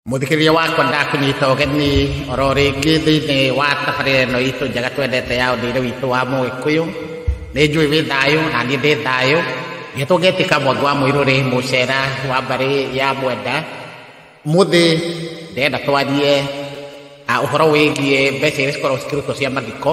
Mũthikĩrĩria wakwa ndakũnyita ũgeni oro rĩngĩ thĩinĩ wa tabarĩra ĩno itũ njega twendete ya ũndũire witũ wa Mũgĩkũyũ. Nĩ njũĩ wĩ thayũ na niĩ ndĩ thayũ. Nĩtwo ngetĩka mwangi wa mũirũrĩ mũcera wa mbarĩ ya mwenda. Mũthĩ ndĩrenda twarie ah, ũhoro wĩgiĩ mbeca iria cikoragwo cikĩrutwo cia mathiko.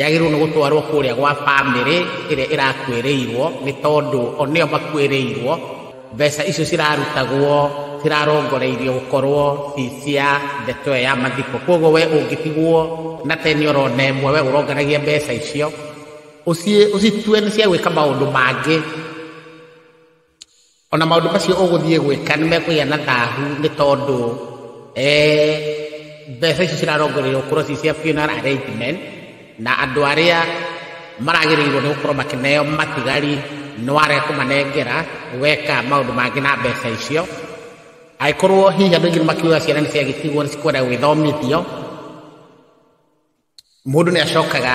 yagĩrĩirwo nĩ gũtwarwo kũrĩa gwa bamĩrĩ ĩrĩa ĩrakuĩrĩirwo nĩ tondũ o nĩo makuĩrĩirwo mbeca icio cirarutagwo cirarongoreirio gũkorwo ci cia ndeto ĩyo ya mathiko kwoguo we ũngĩtigwo na teni orona ĩmwe we ũronganagia mbeca icio ũcitue nĩ cia gwĩka maũndũ mangĩ ona maũndũ macio ũgũthiĩ gwĩka nĩ mekũgĩa na thahu nĩ tondũ eh, mbeca icio cirarongorerio korwo ci cia funeral arrangement na andũ arĩa maragĩrĩirwo nĩ gũkorwo makĩneo matigari nĩ ware kũmanengera weka maũndũ mangĩ na mbeca icio angĩkorwo hihi andũ aingĩ nĩ makiuga ciana nĩ ciagĩtigwo nĩ cikwenda gwĩthomithio mũndũ nĩ acokaga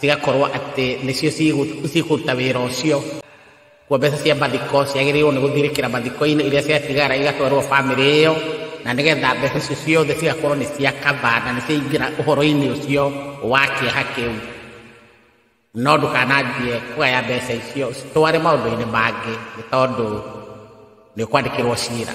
cigakorwo atĩ nĩcio cikũruta wĩra ũcio kuo mbeca cia mathiko ciagĩrĩirwo nĩ gũthirĩkĩra mathiko-inĩ iria ciatigara igatwarwo bamĩrĩ ĩyo na nĩgetha mbeca icio ciothe cigakorwo nĩ cia kaba na nĩ ciaingĩra ũhoro-inĩ ũcio wa kĩeha kĩu no ndũkananjie kũgaya mbeca icio citware maũndũ-inĩ mangĩ nĩ tondũ nĩ ũkwandĩkĩrwo cira